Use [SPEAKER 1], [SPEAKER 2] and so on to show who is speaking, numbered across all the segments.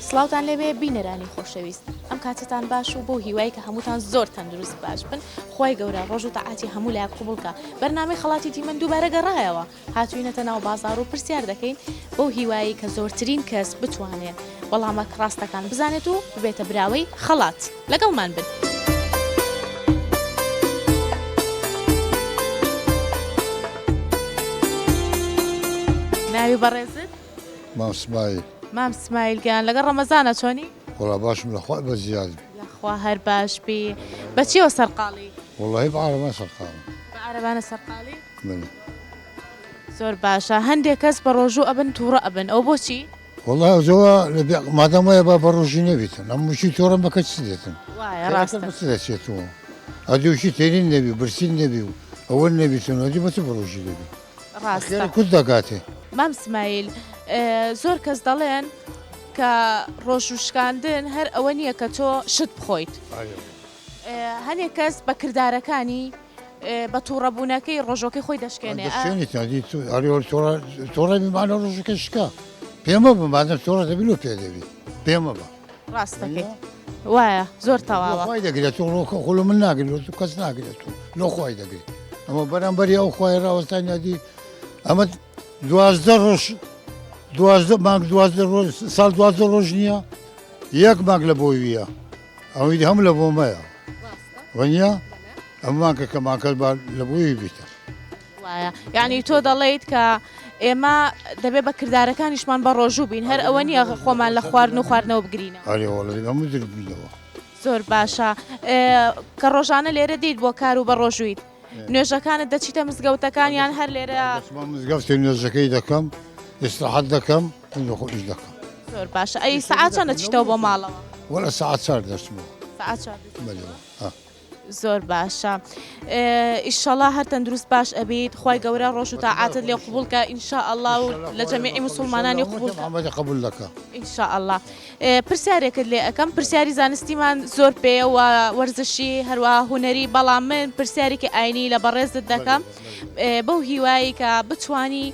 [SPEAKER 1] سڵاوان لەوێ بینەرانی خۆشەویست ئەم کاتتان باش و بۆ هیوای کە هەمووتان زۆر تەندروست باش بن خی گەورە ڕۆژ و تەعاتی هەموو لای قوبڵکە بەرنامی خڵاتی دیمەند دووبارە گەڕایەوە هاتووینەتە ناو بازاڕ و پرسیار دەکەین بەو هیوایەی کە زۆرترین کەس بتوانێت وەڵامە ڕاستەکان بزانێت و ببێتە براوەی خەڵات لەگەڵمان بن. ناوی بەڕێزت مام سمایل مام سمایل گیان لەگە ڕەمەزانە چۆنی وڵا باشم لەخوای
[SPEAKER 2] بە زیاد لەخوا هەر باش
[SPEAKER 1] بی بەچیەوە سەرقاڵی وڵی بە عربە سەرقاڵ عربانە
[SPEAKER 2] سەرقاڵی
[SPEAKER 1] بەلێ. زۆر باشە هەندێک کەس بەڕۆژوو ئەبن توڕە ئەبن ئەوە بۆچی؟ وەڵا زۆوا
[SPEAKER 2] مادام وایە با بەڕۆژی نەبیتن ئەم مشی تۆڕم بەکە چ دێتن
[SPEAKER 1] دەچێت و
[SPEAKER 2] ئەدوشی تێنین نەبی برسین نەبی و ئەوە نەبیتن وەدی بەچ بەڕۆژی دەبی کورد
[SPEAKER 1] دەگاتێ
[SPEAKER 2] مام سمایل
[SPEAKER 1] زۆر کەس دەڵێن کە ڕۆژوشکاندن هەر ئەوە نییە کە تۆ شت بخۆیت هەنێک کەس بە کردارەکانی بە توڕەبوونەکەی ڕۆژۆکەی
[SPEAKER 2] خۆی دەشکێنێ. ڕاستەکەی وایە زۆر تەواوای
[SPEAKER 1] دەگرێت و ڕۆکە
[SPEAKER 2] خۆ من ناگرێت و کەس ناگرێت و لۆخوای دەگرێت ئەمە بەرامبەری ئەو خخوای ڕاوەستان یادی ئەمە دوازدە ڕۆژ دوازدە مانگ دوازدە ڕۆژ ساڵ دوازدە ڕۆژ نییە یەک ماگ لە بۆویە ئەوەی هەم لە بۆمەیە وەنیە ئەممان کە کەماکەس با لە بۆی بیتە وایە
[SPEAKER 1] یعنی تۆ دەڵیت کە ئێمە دەبێت بە کردارەکانیشمان بە ڕۆژوو بین هەر ئەوە نییە خۆمان لە خواردن و خواردنەوە بگرینە ئەمەگربینەوە
[SPEAKER 2] زۆر باشە
[SPEAKER 1] کە ڕۆژانە لێرە دیت بۆ کار و بە ڕۆژوویت نوێژەکانت دەچیتە مزگەوتەکانیان هەر لێرە مزگەفتی
[SPEAKER 2] نوێژەکەی دەکەم ئێستاحەت دەکەم من لەخۆ ئیش دەکەم زۆر باشە ئەی
[SPEAKER 1] سعات چەند دەچیتەوە بۆ ماڵەوە وەڵە سعات چار
[SPEAKER 2] دەچمەوە سعات چەند
[SPEAKER 1] بەلەوە ها زۆر باشە ئیشەڵا هەر تەندروست باش ئەبیت خی گەورە ڕۆژ و تاعاتت لێ قوبولکە ئینشا ئەله و لە جەمیعی مسلمانانی قوبول ئەمەدە قبول دەکە
[SPEAKER 2] ئینشا ئەله
[SPEAKER 1] پرسیارێکت لێ ئەەکەم پرسیاری زانستیمان زۆر پێەوە وەرزشی هەروە هوەری بەڵام من پرسیارێکی ئاینی لە بەڕێزت دەکەم بەو هیوایی کە بتانی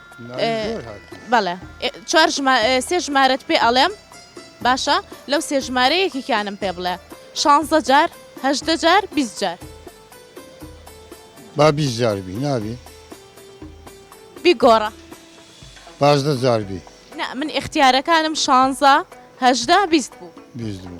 [SPEAKER 1] بەڵێ چوار سێ ژمارەت پێ ئەڵێم باشە لەو سێ ژمارە یەکێکیانم پێ بڵێ شانزە جار هەشدە جار بیست جار با
[SPEAKER 2] بیست جار بی نابی بیگۆڕە
[SPEAKER 1] پازدە
[SPEAKER 2] جار بی من اختیارەکانم
[SPEAKER 1] شانزە هەشدا بیست بوو بیست بوو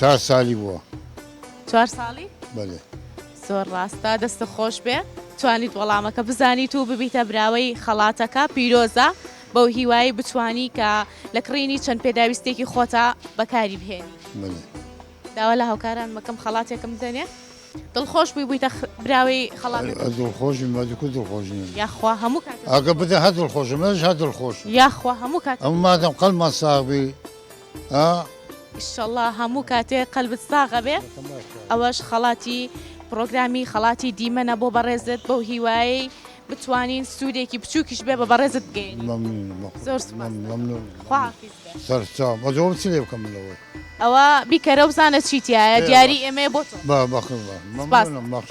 [SPEAKER 2] چار سالی بووە چوار
[SPEAKER 1] ساڵی بەێ
[SPEAKER 2] زۆر ڕاستە
[SPEAKER 1] دەستە خۆش بێ توانیت وەڵامەکە بزانیت و ببیتە براوەی خەڵاتەکە پیرۆزە بەو هیوایی بتانی کە لە کڕینی چەند پێداویستێکی خۆتا بەکاری بهێنی داوا لە هاوکاران مەکەم خەڵاتێکم دەنێ دڵخۆش بووی بوویتە براوی خەڵات دڵخۆش مەدیکو
[SPEAKER 2] دڵخۆش یاخوا هەموو
[SPEAKER 1] ئەگە بدە هە دڵخۆشمەش
[SPEAKER 2] هە دڵخۆش یاخوا هەموو کات
[SPEAKER 1] ئەم مادەم قەلمان
[SPEAKER 2] ساغبی ها. ئیشەڵا
[SPEAKER 1] هەموو کاتێ قەلبت ساغەبێ ئەوەش خەڵاتی پرۆگرامی خەڵاتی دیمەنە بۆ بەڕێزت بەو هیوایی بتوانین سوودێکی بچووکیش بێ بە بەڕێزت بگەین زۆر
[SPEAKER 2] سەرچا بەزۆم چ لێ بکەم لەوەی ئەوە بیکەرە
[SPEAKER 1] بزانە چیتیایە دیاری ئێمە بۆ با بەخ مەخش.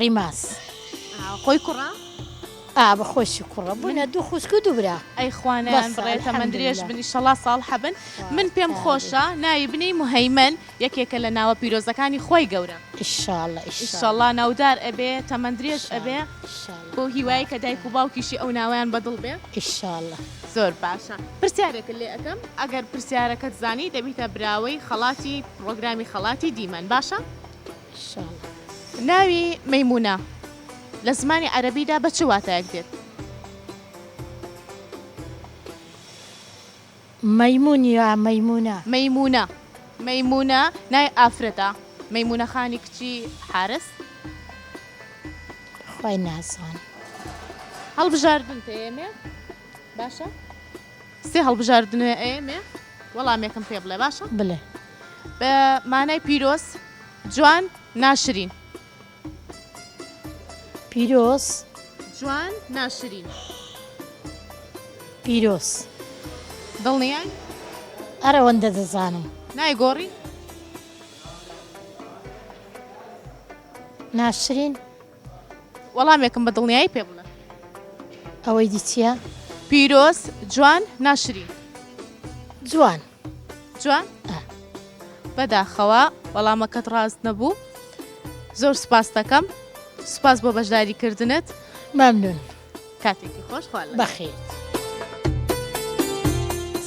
[SPEAKER 3] ڕیماس خۆی
[SPEAKER 1] کوڕە؟ ئا بە
[SPEAKER 3] خۆشی کوڕە بوونە دوو خوشک و دوو برا ئەی خوانەیانڕێ
[SPEAKER 1] تەمەند درێژ
[SPEAKER 3] بنی
[SPEAKER 1] شەڵا ساڵ حەبن من پێم خۆشە ناوی بنی مهەیمەن یەکێکە لە ناوە پیرۆزەکانی خوای گەورە
[SPEAKER 3] ئیشەڵا ناودار
[SPEAKER 1] ئەبێ تەمەند درێژ ئەبێ بۆ هیوای کە دایک و باوکیشی ئەو ناویان بەدڵ بێ ئیشەڵە
[SPEAKER 3] زۆر باشە
[SPEAKER 1] پرسیارێکە لێ ئەەکەم ئەگەر پرسیارەکەت زانی دەبیتە براوەی خەڵاتی پرۆگرامی خەڵاتی دیمەن باشە؟
[SPEAKER 3] ناوی
[SPEAKER 1] مەیمونە لە زمانی عەرەبیدا بە چ واتایەک دێت؟
[SPEAKER 3] مەیمون یا مەیمونە؟ مەیمونە
[SPEAKER 1] مەیمونە ناوی ئافرەتە مەیمونە خانی کچی حارس
[SPEAKER 3] خۆی نازان
[SPEAKER 1] هەڵبژاردن پێێ باشە؟ سێ هەڵبژاردنەێەێ وەڵامێکم پێ بڵێ باشە؟ بڵێ.
[SPEAKER 3] بە
[SPEAKER 1] مانای پیرۆز، جوان، ناشرین.
[SPEAKER 3] پیرۆز. جوان،
[SPEAKER 1] ناشرین.
[SPEAKER 3] پیرۆز.
[SPEAKER 1] دڵنیای؟
[SPEAKER 3] ئەرەوەندە دەزانم. نایگۆڕی؟
[SPEAKER 1] ناشرین؟ وەڵامێکم بە دڵنیایی پێ بڵێ. ئەوەی
[SPEAKER 3] دی چییە؟ پیرۆز،
[SPEAKER 1] جوان، ناشرین.
[SPEAKER 3] جوان. جوان؟
[SPEAKER 1] ئە. بەداخەوە وەڵامەکەت ڕاست نەبوو. زۆر سوپاستەکەم. سوپاس بۆ بەشداری کردنت. مەمنون.
[SPEAKER 3] کاتێکی
[SPEAKER 1] خۆش خوا لە. بەخێر.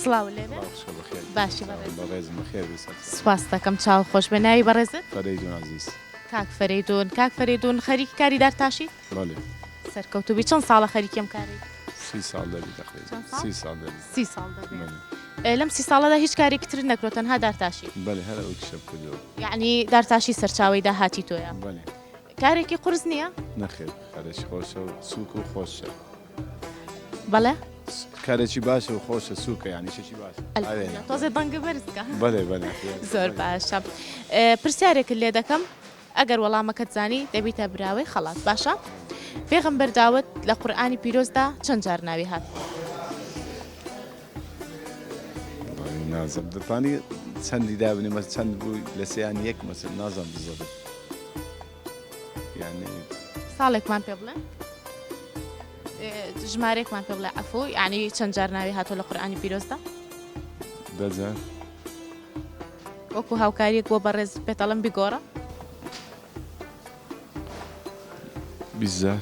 [SPEAKER 1] سڵاو لێ
[SPEAKER 3] بێ.
[SPEAKER 1] سڵاو بەخێر. باشی بەڕێزم. بەڕێزم بەخێر بیت.
[SPEAKER 4] سوپاستەکەم چاو
[SPEAKER 1] خۆش بێ. ناوی بەڕێزت؟ فەرەیدون عەزیز.
[SPEAKER 4] کاک فەرەیدون
[SPEAKER 1] کاک فەرەیدون خەریکی کاری دارتاشیت؟ بەڵێ.
[SPEAKER 4] سەرکەوتوو بی
[SPEAKER 1] چەند ساڵە خەریکی ئەم کارەیت؟ سی ساڵ دەبی
[SPEAKER 4] تەقریبا چەند ساڵ؟ سی ساڵ دەبی
[SPEAKER 1] سی
[SPEAKER 4] ساڵ
[SPEAKER 1] دەبێ بەڵێ ئێ لەم سی
[SPEAKER 4] ساڵەدا هیچ
[SPEAKER 1] کارێکی ترت نەکردوە تەنها دارتاشی بەڵێ هەر ئەو کشەم
[SPEAKER 4] کردوە یەعنی دارتاشی
[SPEAKER 1] سەرچاوەی داهاتی تۆیە بەڵێ
[SPEAKER 4] کارێکی قورس
[SPEAKER 1] نییە؟ نەخێر کارێکی
[SPEAKER 4] خۆشە و سووک و خۆشە.
[SPEAKER 1] بەڵێ کارێکی
[SPEAKER 4] باشە و خۆشە سوکە یانی شێکی باشە تۆزێ بەنگە
[SPEAKER 1] بەرزکە بەێ بە
[SPEAKER 4] زۆر باشە
[SPEAKER 1] پرسیارێکت لێ دەکەم ئەگەر وەڵامەکەت زانی دەبیتە براوەی خەڵات باشە پێغم بەرداوت لە قورآانی پیرۆزدا چەند جار ناوی هات
[SPEAKER 4] نازم دەتانی چەندی دابنی مە چەند بووی لە سیان یەک مەسن نازم بزۆبێت ساڵێکمان پێ
[SPEAKER 1] بڵێ ژمارێکمان پێ بڵێ ئەفۆ یعنی چەند جار ناوی هاتۆ لە قورآانی پیرۆستە
[SPEAKER 4] دەجار
[SPEAKER 1] وەکو هاوکاریەک بۆ بەڕێز پێتەڵم بگۆڕە
[SPEAKER 4] بیزار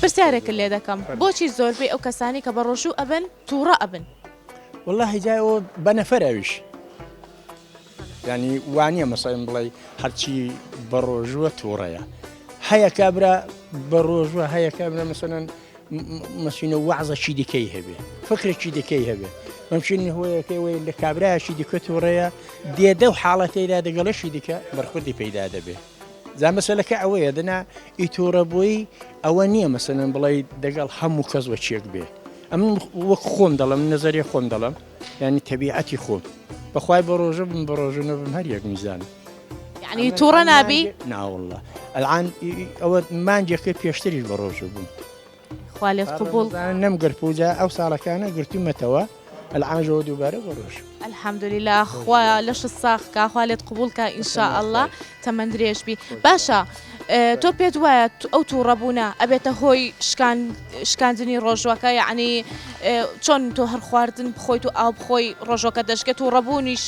[SPEAKER 1] پرسیارێکت لێ دەکەم بۆچی زۆربەی ئەو کەسانەی کە بەڕۆژوو ئەبن توڕە ئەبن. وەڵاهی جا
[SPEAKER 5] ئەوە بە نەفەرە ئەویش یانی وانە مەسەن بڵێ هەرچی بەڕۆژووە تووڕەیە هەیە کابرا بەڕۆژوە هەیە کابرا مەسەن مەسینە وەعزەکی دیکەی هەبێ فکرێکی دیکەی هەبێ مەمشین هۆیەکەی وی لە کابراایشی دیکە تووڕەیە دێدە و حاڵەتەیدا دەگەڵەشی دیکە بەرخودی پەیدا دەبێت جا مەسەلەکە ئەوەیە دەنا ئی تووڕەبووی ئەوە نییە مەسەن بڵی دەگەڵ هەموو کەس وە چێک بێ ئەم وەک خۆم دەڵم نەزەری خۆم دەڵم ینی تەبیعەتی خۆم بەخوای بە ڕۆژە بم بە ڕۆژە نەبم هەر یەک میزان ینی تووڕە
[SPEAKER 1] نابی ناوڵە
[SPEAKER 5] ئەلان ئەوە مانجەکە پێشتری بە ڕۆژە بووم خوا لێت قبوڵ. نەم
[SPEAKER 1] گرت و
[SPEAKER 5] جا ئەو ساڵەکانە
[SPEAKER 1] گرتومەتەوە
[SPEAKER 5] العام ژەوە دووبارە بۆ ڕۆژ. الحمدللە
[SPEAKER 1] خوا لەشت ساغ کا خوا لێت قبوڵ کا ان شاء اللە تەمەن درێژ بی باشە تۆ پێت وایە ئەو تووڕە بوونە ئەبێتە هۆی شکان شکاندنی ڕۆژوەکە یعنی چۆن تۆ هەر خواردن بخۆیت و ئاو بخۆی ڕۆژۆکە دەشکێت و ڕەبوونیش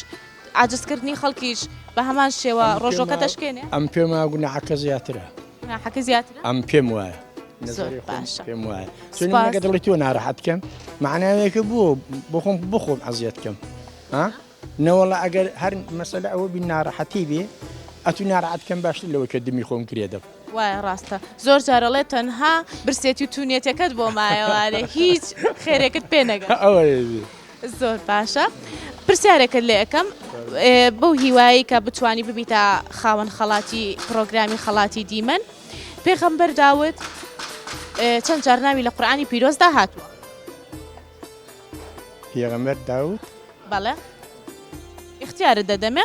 [SPEAKER 1] عاجزکردنی خەڵکیش بە هەمان شێوە ڕۆژۆکە دەشکێنێ؟ ئەم پێم وایە گوناحەکە
[SPEAKER 5] زیاترە. گوناحەکە زیاترە؟
[SPEAKER 1] ئەم پێم وایە. زۆر نەزەری
[SPEAKER 5] خۆم باشە.
[SPEAKER 1] پێم وایە چون سوپاس.
[SPEAKER 5] منەگە دڵی تۆ ناراحەت کەم معناوێکە بۆ بۆ خۆم بۆ خۆم عەزیەت کەم ها نەوەڵا ئەگەر هەر مەسەلە ئەوە بی ناراحەتی بێ ئەتو ناراحەت کەم باشتر لەوەی کە دمی خۆم گرێ دەم وایە ڕاستە
[SPEAKER 1] زۆر جار ئەڵێ تەنها برسێتی و تونیەتەکەت بۆ مایەوارێ هیچ خێرێکت پێ نەگەن
[SPEAKER 5] زۆر
[SPEAKER 1] باشە پرسیارێکت لێ ئەەکەم بەو هیوایی کە بتانی ببیتە خاوەن خەڵاتی پرۆگرامی خەڵاتی دیمەن پێخەمبەر داوت چەند جارناوی لە قورآانی پیرۆزدا هاتووە
[SPEAKER 5] پێغەمبەر داوت بەڵێ
[SPEAKER 1] اختیارت دەدەمێ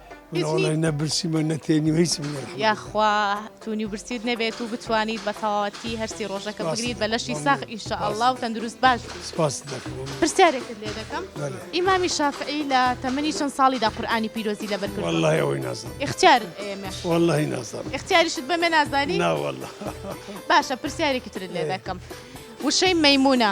[SPEAKER 1] منەوەڵی نە
[SPEAKER 6] برسیمە نەتێنی هیچم یاخوا تونی
[SPEAKER 1] و برسیت نەبێت و بتوانیت بە تەواتی هەرسی ڕۆژەکە بگریت بە لەشی ساخ ئیشە ئەڵا و تەندروست باش سپاس
[SPEAKER 6] پرسیارێکت
[SPEAKER 1] لێ دەکەم ئیمامی
[SPEAKER 6] شافعی
[SPEAKER 1] لە تەمەنی چەند ساڵیدا قورآانی پیرۆزی لە بەرکرد والله ئەوەی نازم
[SPEAKER 6] اختیار
[SPEAKER 1] والله نازم
[SPEAKER 6] اختیاریشت بەمێ
[SPEAKER 1] نازانی ناوەله
[SPEAKER 6] باشە
[SPEAKER 1] پرسیارێکی ترت لێ دەکەم وشەی مەمونە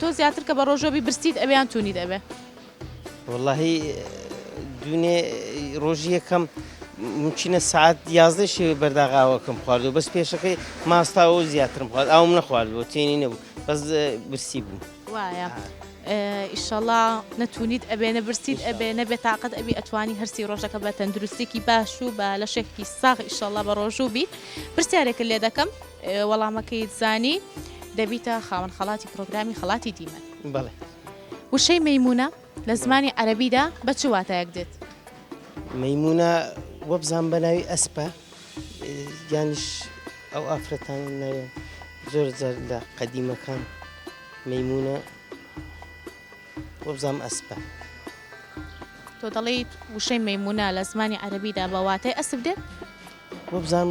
[SPEAKER 1] تۆ زیاتر کە بە ڕۆژۆ بی برسیت ئەوێ یان تونیت ئەوێ؟ وەڵاهی
[SPEAKER 7] دوێنێ ڕۆژی یەکەم ممکنە سعات یازدە شێوێ بەرداغاوەکەم خواردو بەس پێشەکەی ماستاەوە زیاترم خوارد ئاوم نەخوارد بۆ تێنی نەبوو بەس برسی بوو وایە.
[SPEAKER 1] ئیشەڵا نەتونیت ئەبێ نە برسیت ئەبێ نەبێ تااقەت ئەبی ئەتوانی هەرسی ڕۆژەکە بە تەندروستێکی باش و بە لەشێکی ساغ ئیشەڵا بە ڕۆژوو بی پرسیارێکە لێ دەکەم وەڵامەکەیت زانی دەبیتە خاوەن خەڵاتی پرۆگرامی خەڵاتی دیمەن. بەڵێ.
[SPEAKER 7] وشەی
[SPEAKER 1] مەیموونە لە زمانی عەرەبیدا بە چ واتایەک دێت؟ مەیموونە
[SPEAKER 7] وەبزان بە ناوی ئەسپە یانیش ئەو ئافرەتان ناوێن زۆر جار لە قەدیمەکان مەیموونە وەبزانام ئەسپە.
[SPEAKER 1] تۆ دەڵێیت وشەی مەیموونە لە زمانی عەرەبیدا بە واتای ئەسپ دێت؟ وەبزانام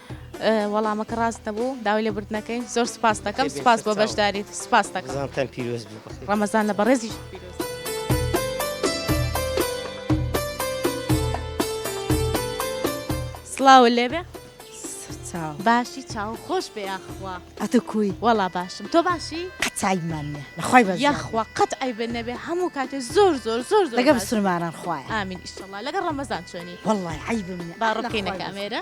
[SPEAKER 1] وەڵامەکە ڕاست نەبوو داوای لێ بردنەکەی زۆر سپاس دەکەم سپاس بۆ بەشداریت سپاس دەکەم پیرۆز
[SPEAKER 7] ڕەمەزان لە بەڕێزیش. سڵاو
[SPEAKER 1] لێبێ باشی چاو خۆش بێ یاخوا ئەتە کوی وەڵا
[SPEAKER 3] باشم تۆ
[SPEAKER 1] باشی قەتایمان نیە
[SPEAKER 3] لەخوای بە یاخوا قەت ئەی بن
[SPEAKER 1] نەبێ هەموو کاتێ زۆر زۆر زۆر لەگە بسرمانان خوای ئامین
[SPEAKER 3] ئیشڵ لەگە
[SPEAKER 1] ڕەمەزان چۆنی وڵی عیبم
[SPEAKER 3] باڕکەینە کامێرە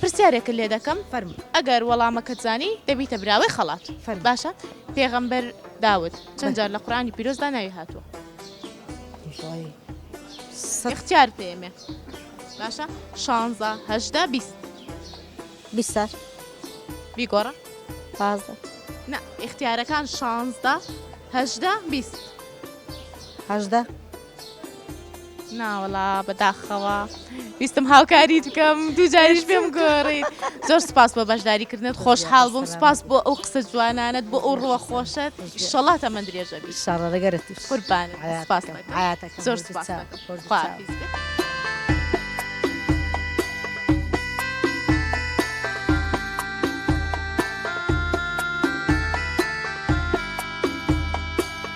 [SPEAKER 3] پرسیارێکت لێ دەکەم،
[SPEAKER 1] فەرموو. ئەگەر
[SPEAKER 3] وەڵامەکەت
[SPEAKER 1] زانی، دەبیتە براوەی خەڵات. فەرموو. باشە،
[SPEAKER 3] پێغەمبەر،
[SPEAKER 1] داود، چەند جار لە قورئانی پیرۆزدا ناوی هاتووە؟ ڕای سەد. ئیختیارت پێ ئەمێ. باشە، شانزە، هەژدە، بیست.
[SPEAKER 3] بیست جار.
[SPEAKER 1] بیگۆڕە. پازدە.
[SPEAKER 3] نا،
[SPEAKER 1] ئیختیارەکان شانزدە، هەژدە، بیست.
[SPEAKER 3] هەژدە.
[SPEAKER 1] ناوەڵا بەداخەوە ویستم هاوکاریت بکەم دوو جاریش پێم گۆڕیت زۆر سپاس بۆ بەشداریکردنت خۆشحاڵ بووم سپاس بۆ ئەو قسە جوانانت بۆ ئەو ڕوە خۆشت شەڵا تەمە درێژە شاڕەگەرت قوربان سپاس زۆر سپاس خواحافیز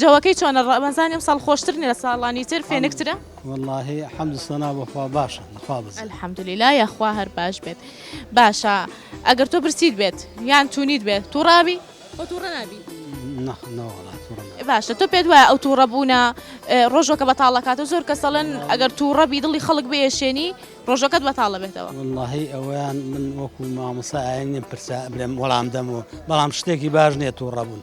[SPEAKER 1] جەوەکەی چۆنە ڕەمەزانی ئەمساڵ خۆشتر نیە لە ساڵانی تر فێنکترە؟ وەڵاهی حەمد
[SPEAKER 8] و سەنا بۆ خوا باشە لە خوا بەزێ. الحمدللە یاخوا
[SPEAKER 1] هەر باش بێت باشە ئەگەر تۆ برسیت بێت یان تونیت بێت توڕابی خۆ توڕە نابی؟ نە نەوەڵا
[SPEAKER 8] توڕە نابم. باشە
[SPEAKER 1] تۆ پێت وایە ئەو توڕە بوونە ڕۆژەکە بەتاڵەکاتە زۆر کەس دەڵێن ئەگەر توڕەبی دڵی خەڵک بێشێنی ڕۆژەکەت بەتاڵە بێتەوە؟ وەڵاهی ئەوەیان
[SPEAKER 8] من وەکو مامۆستا ئاین نیم پرسیار بلێم وەڵام دەمەوە بەڵام شتێکی باش نیە توڕەبوون.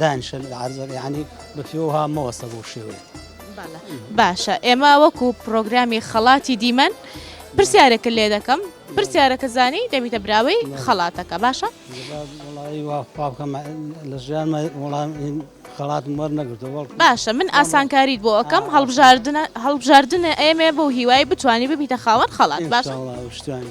[SPEAKER 8] دانیشە لە عەرزەکە یانی بە پێوەها مەوەستە بۆ شێوەیە. باشە
[SPEAKER 1] ئێمە وەکو پرۆگرامی خەڵاتی دیمەن پرسیارێکە لێ دەکەم پرسیارەکە زانی دەبیتە براوەی خەڵاتەکە باشە
[SPEAKER 8] لە ژیان وڵام خەڵات مەر نەگرتەوە باشە من
[SPEAKER 1] ئاسانکاریت بۆ ئەەکەم هەڵبژاردنە هەڵبژاردنە ئێمێ بۆ هیوای بتانی ببیتە خاوەن خەڵات باش شتوانی.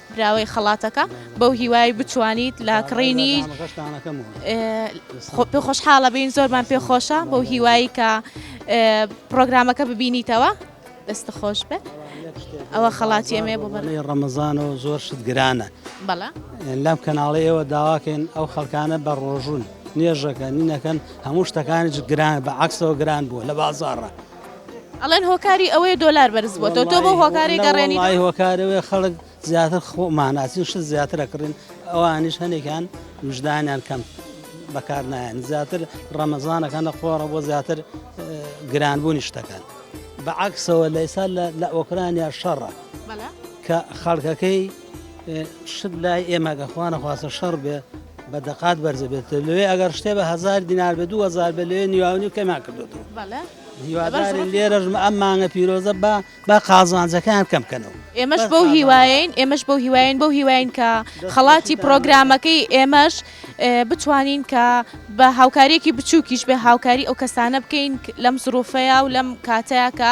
[SPEAKER 1] براوەی خەڵاتەکە بەو هیوای بتوانیت لە کڕینی پێ خۆشحاڵە بین زۆرمان پێ خۆشە بەو هیوایی کە پرۆگرامەکە ببینیتەوە دەست خۆش بێت ئەوە خەڵاتی ئەمێ بۆ بەڵی ڕەمەزان و
[SPEAKER 8] زۆر شت گرانە بەڵە
[SPEAKER 1] لەم کەناڵی
[SPEAKER 8] ئێوە داواکەین ئەو خەڵکانە بە ڕۆژون نێژەکە نینەکەن هەموو شتەکانی گران بە عکسەوە گران بووە لە بازارڕە ئەڵێن
[SPEAKER 1] هۆکاری ئەوەی دۆلار بەرز بووە تۆ بۆ هۆکاری گەڕێنی ئای هۆکارەوەی خەڵک
[SPEAKER 8] زیاتر خۆماناسی شت زیاتر ئەکڕین ئەوانیش هەنێکیان وژدانیان کەم بەکار نایەن زیاتر ڕەمەزانەکە نەخۆڕە بۆ زیاتر گرانبوونی شتەکان بەعکسەوە لە ئێستا لە ئۆکرانیا شەڕە کە خەڵکەکەی شت لای ئێمە گە خوانە خواستە شەڕ بێ بە دەقات بەرزە بێت لەوێ ئەگەر شتێ بە هزار دینار بە دو هزار بە لەوێ نیواونی کەما کردوەوە هیوادارین لێرەژ ئەم مانگە پیرۆزە بە بە قازانجەکان کەم بکەنەوە ئێمەش بەو هیواین
[SPEAKER 1] ئێمەش بەو هیواین بەو هیواین کە خەڵاتی پرۆگرامەکەی ئێمەش بتوانین کە بە هاوکاریەکی بچووکیش بە هاوکاری ئەو کەسانە بکەین لەم زروفەیە و لەم کاتەیە کە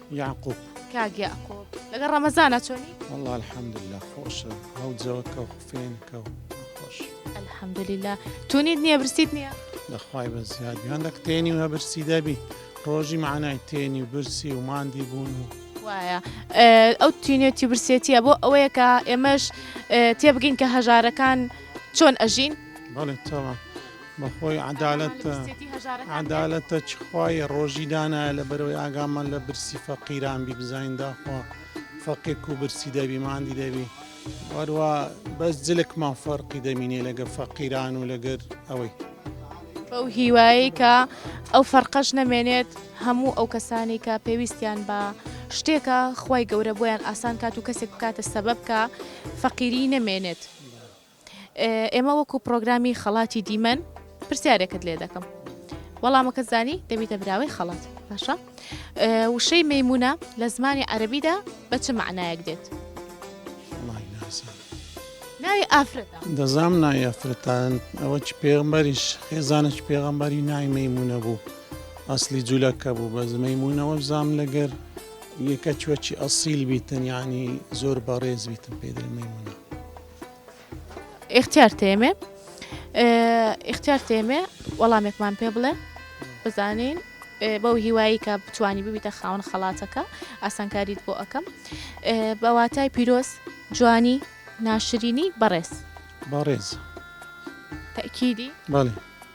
[SPEAKER 1] یاقوب
[SPEAKER 6] کاک یاقوب
[SPEAKER 1] لەگە ڕەمەزانە چۆنی والله الحمدلله
[SPEAKER 6] خۆشە هەڵ جەوەکە و خوێنکە و خۆش الحمدلله
[SPEAKER 1] تونیت نییە برسیت نییە لەخوای بە زیادی
[SPEAKER 6] هەندە کتێنی وە برسی دەبی ڕۆژی معنای تێنی برسی و ماندی بوون و وایە
[SPEAKER 1] ئەو تینێتی برسێتیە بۆ ئەوەیە کە ئێمەش تێبگەین کە هەژارەکان چۆن ئەژین بەڵێ تەوە
[SPEAKER 6] بەخۆی عەدالەت عەدالەتە چ خوای ڕۆژی دانایە لە بەرەوەی ئاگامان لە برسی فەقیران بی بزانین داخوا فەقێک و برسی دەبی ماندی دەبی وەروە بەس جلکمان فەرقی دەمینێ لەگە فەقیران و لەگەر ئەوەی بەو
[SPEAKER 1] هیوایی کە ئەو فەرقەش نەمێنێت هەموو ئەو کەسانی کە پێویستیان بە شتێکە خی گەورە بۆیان ئاسان کات و کەسێک بکاتە سەبەب کە فەقیری نەمێنێت. ئێمە وەکو پرۆگرامی خەڵاتی دیمەن پرسیارێکت لێ دەکەم وەڵامەکە زانی دەبیتە براوەی خەڵات باشە وشەی مەمونە لە زمانی عەربیدا بە چ معنایەک دێت ناوی ئافرەت دەزام ناوی
[SPEAKER 6] ئەفرەتان ئەوە چ پێغمبەریش خێزانش پێغمبەری ناوی مەمونە بوو ئەسلی جوولەکە بوو بە زمەیمونونەوە زام لەگەر یەکە چوەچی ئەسیل بیتن ینی زۆر بەڕێز بیتن پێدرمەمونە ئختیار
[SPEAKER 1] تێمێ ئختیار تێمێ وەڵامێکمان پێ بڵێ بزانین بەو هیوایی کە بتانی ببیتە خاون خەڵاتەکە ئاسانکاریت بۆ ئەەکەم بەواتای پیرۆز جوانی ناشرینی بەڕێز
[SPEAKER 6] بەڕێز
[SPEAKER 1] تەکیدی بەڵێ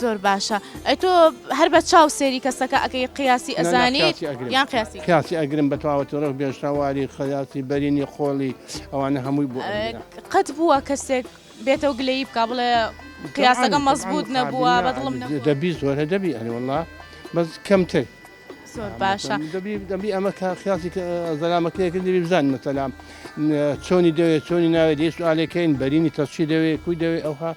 [SPEAKER 2] زۆر باشە
[SPEAKER 1] ئەی تۆ هەر بە چاو سێری کەسەکە ئەەکەی قیاسی ئەزانیت یان قیاسی قیاسی ئەگرم بە
[SPEAKER 2] تەواوەتەوە بێژتاواری خەیاتی بەرینی خۆڵی ئەوانە هەمووی بوو قەت بووە
[SPEAKER 1] کەسێک بێتەوە گلەی بک بڵێ قیاسەکە مەزبوط نەبووە بەدڵم دەبی زۆرە
[SPEAKER 2] دەبی ئەریوەڵا بەس کەمتر زۆر باشە
[SPEAKER 1] دەبی ئەمە
[SPEAKER 2] خیاسی زەلامەکەیەکە دەبی بزان مەسەلام چۆنی دەوێت چۆنی ناوێت دێ سوالەکەین بەرینی تەشی دەوێت کوی دەوێت ئەوها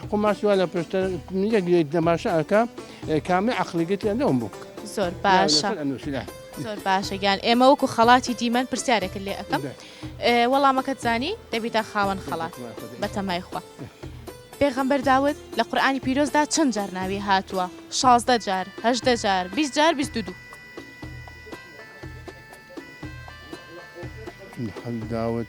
[SPEAKER 2] حقو ماسی وا لە پشتە یەک یەک دەماشە ئەکا کامەی عەقڵی گەتیان لەوم بوو. زۆر باشە
[SPEAKER 1] لەسەر ئەنووسی لە زۆر باشە گیان ئێمە وەکو خەڵاتی دیمەن پرسیارێکت لێ ئەەکەم بێ. ئێ، وەڵامەکەت زانی دەبیتە خاوەن خەڵات بەتەمای خۆ دەبی. بەتەمای خوا پێغەمبەر داود لە قورئانی پیرۆزدا چەند جار ناوی هاتووە شازدە جار هەژدە جار بیست جار بیست و دوو داود.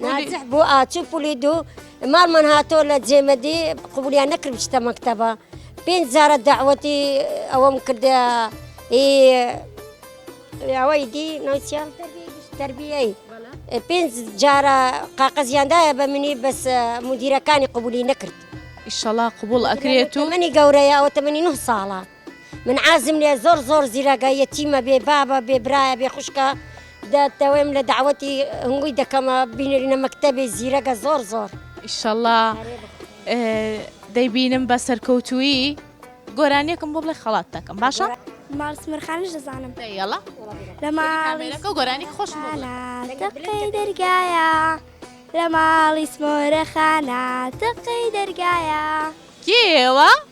[SPEAKER 9] ناجح بوو ئاچوو پولی دوو ماڵمان هاتۆ لە جێمەدی قوبولیان نەکرد بچتە مەکتەبە پێنج جارە داوەتی ئەوەم کردە ئەوەی دی نوچیان تربیەی پێنج جارە قاقەزیاندایە بە منی بەس مدیرەکانی قوبولی نەکرد ئیشەڵا قوبول
[SPEAKER 1] ئەکرێت و منی گەورەیە ئەوە تەمەنی
[SPEAKER 9] نه ساڵە من عازم لێ زۆر زۆر زیرەگە یەتیمە بێ بابە بێ برایە بێ خوشکە دەتەوەیم لە داوەتی هەنگوی دەکەمە بینرینە مەکتتەبێ زیرەگە زۆر زۆر ئیشەڵا
[SPEAKER 1] دەیبینم بە سەرکەوتویی گۆرانیەکم بۆ بڵێ خەڵات دەکەم باشە مارس مرخانش
[SPEAKER 10] دەزانم دەیڵە
[SPEAKER 1] لە
[SPEAKER 10] ماڵەکە
[SPEAKER 1] گۆرانی خۆش
[SPEAKER 10] دەرگایە لە ماڵی سمۆرە خانە تەقەی دەرگایە کێوە؟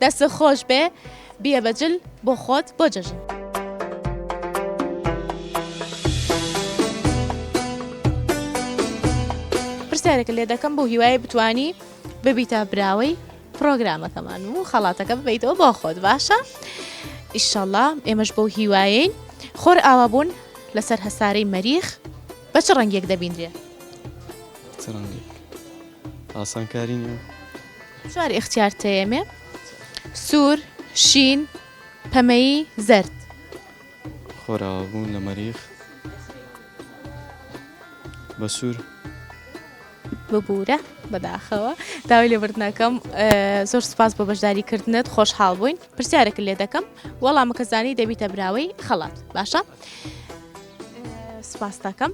[SPEAKER 1] دەستت خۆش بێ بیە بە جل بۆ خۆت بۆ جەژن. پرسیارێکە لێ دەکەم بۆ هیوای بتانی ببیتە براوەی پرۆگرامەکەمان و خەڵاتەکە ببیتەوە بۆ خۆت باشە ئیشەڵا ئێمەش بۆ هیوایین خۆر ئاوا بوون لەسەر هەسارەی مەریخ بە چ ڕەنگێک دەبیندرێ
[SPEAKER 11] ئاسانکاری نیە. چوار
[SPEAKER 1] ئیختیار تەیەمێ، سوور، شین، پەمەیی، زەرد.
[SPEAKER 11] خۆراوا بوون لە مەریخ بە سوور.
[SPEAKER 1] ببورە بەداخەوە داوای لێبوردن ئەکەم زۆر سوپاس بۆ بەشداری کردنت خۆشحاڵ بووین پرسیارێکت لێ دەکەم وەڵامەکە زانی دەبیتە براوەی خەڵات باشە؟ سپاستاکەم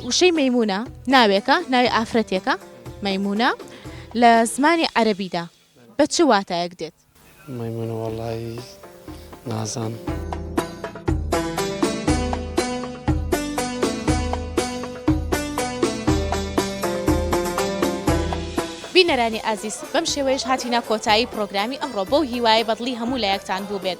[SPEAKER 1] وشەی مەمونە ناوێکە ناوی ئافرەتێکە مەمونە لە زمانی عەربیدا بە چ واتایەک دێت مەمونە وڵی
[SPEAKER 6] نازان.
[SPEAKER 1] بینەرانی ئازیز بەم شێوەیەش هاتینا کۆتایی پرۆگرامی ئەمڕۆ بەو هیوای بەدڵی هەموو لایەکتان بوو بێت.